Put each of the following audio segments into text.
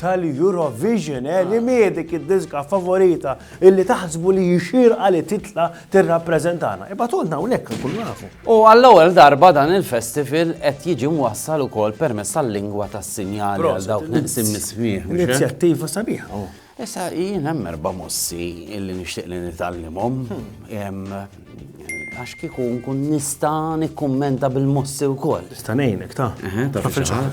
tal-Eurovision, eh, li mie dik id-diska favorita illi taħsbu li jixirqa li titla tirrappreżentana. Ibatulna hawnhekk nkunu nafu. U għall-ewwel darba dan il-festival qed jiġi mwassal ukoll permezz tal-lingwa tas-sinjali għal dawk naqsim nismih. Eh? Inizjattiva sabiħa. Oh. Issa jien hemm erba' mossi illi nixtieq li nitallimhom. Hmm. Għax kieku nkun nista' nikkummenta bil-mossi wkoll. Nista' ngħinek ta'. Eħe, ta' fil-ċaħar.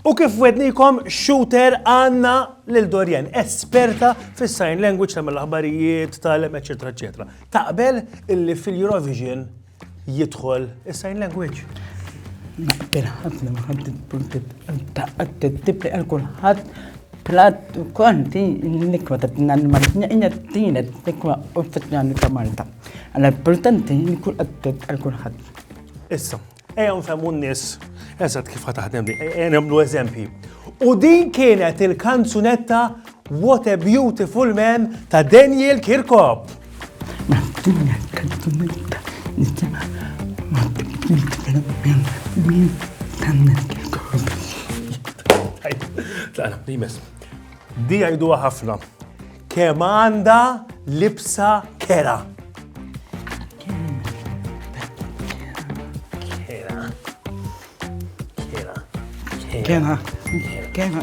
U kif wednikom shooter għanna lil Dorian, esperta fis sign language tal aħbarijiet tal-em, eccetera, eccetera. Taqbel illi fil-Eurovision jidħol is-sign language. Bil-ħafna maħabdi punti tibqa għal kulħadd plat u konti nikwa ta' t-nanman, jgħina t-tina nikwa u t-tnani ta' Malta. Għalla importanti nikwa għattet għal kulħadd. Issa, ejja nfemmu n-nis, eżat kif ħataħdem di, ejja namlu eżempji. U din kienet il-kanzunetta What a Beautiful Man ta' Daniel Kirkop. Di għajdu ħafna. Kem għanda libsa kera. Kera. Kera. Kera. Kera.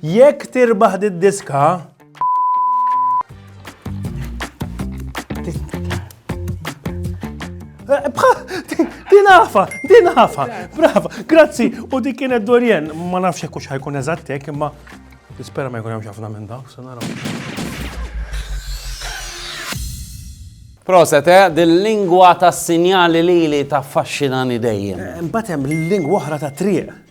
Jekk tirbaħ did-diska, Din għafa, din għafa, brava, grazzi, u dik kienet Dorien, ma nafx jekk ħajkun eżattek, imma nispera ma jkun hemm ħafna minn dawk, se naraw. Proset, eh? Dil-lingwa ta' sinjali li li ta' faxxinani dejjem. Eh, Mbatem, l-lingwa oħra ta' triq.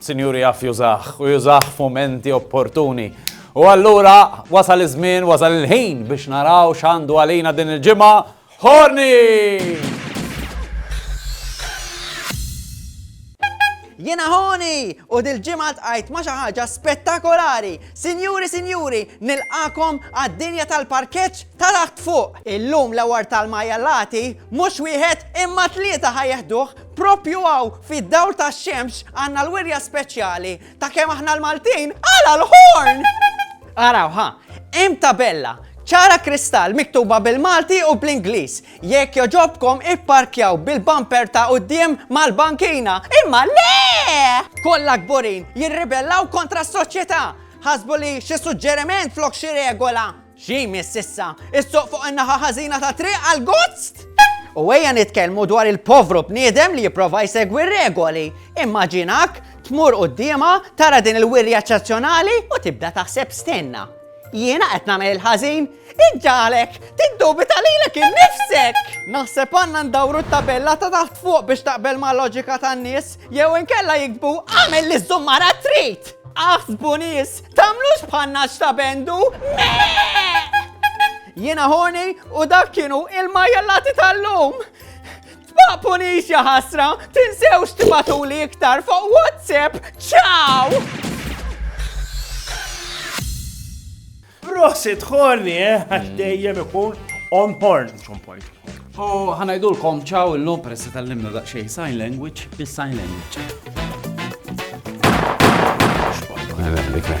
Sinjur jaf jużah u jużah f'mumenti opportuni. U allura wasal iż-żmien, wasal il-ħin biex naraw x'għandu għalina din il-ġimgħa Horni! Jena Horni! U dil-ġimgħa tqajt ma' xi ħaġa spettakolari. Sinjuri, sinjuri, nilqakom għad-dinja tal-parkeġġ ta' taħt fuq. Illum l-awar tal-majjallati mhux wieħed imma tlieta ħajjeħduh Propju hawn fid-dawl tax-xemx għandna l-wirja speċjali ta' kemm aħna l-Maltin għala l-ħorn! Araw ha, hemm tabella ċara kristall miktuba bil-Malti u bl-Ingliż. Jekk joġobkom ipparkjaw bil-bumper ta' quddiem mal-bankina. Imma le! Kollha kburin jirribellaw kontra s-soċjetà. Ħasbu li xi suġġeriment flok xi regola. Xi jmiss issa? Is-suq fuq in-naħa ħażina tat-triq għall-gozz? U ejja nitkellmu dwar il-povru bniedem li jipprova jsegwi r-regoli. Immaġinak tmur quddiemha tara din il-wirja eċċezzjonali u tibda taħseb stenna. Jiena qed nagħmel il-ħażin? Iġġalek tiddubita lilek innifsek! Naħseb għandna ndawru t-tabella ta' taħt fuq biex taqbel ma' loġika tan-nies jew inkella jiktbu għamel li żummara trid! Aħsbu nies, Tagħmlux bħanna x'ta' bendu! Jiena horny u dak kienu il-majjallati tal-lum! Tbaqpunix ja ħasra, tinsewx tibatuli iktar fuq WhatsApp! Ciao! Prosit, horny, eh? Għax dejjem ikun on horn, xon point. U ħanajdulkom ċaw illum peress li tallimna daqsxejn sign language bis-sign language. Xballa,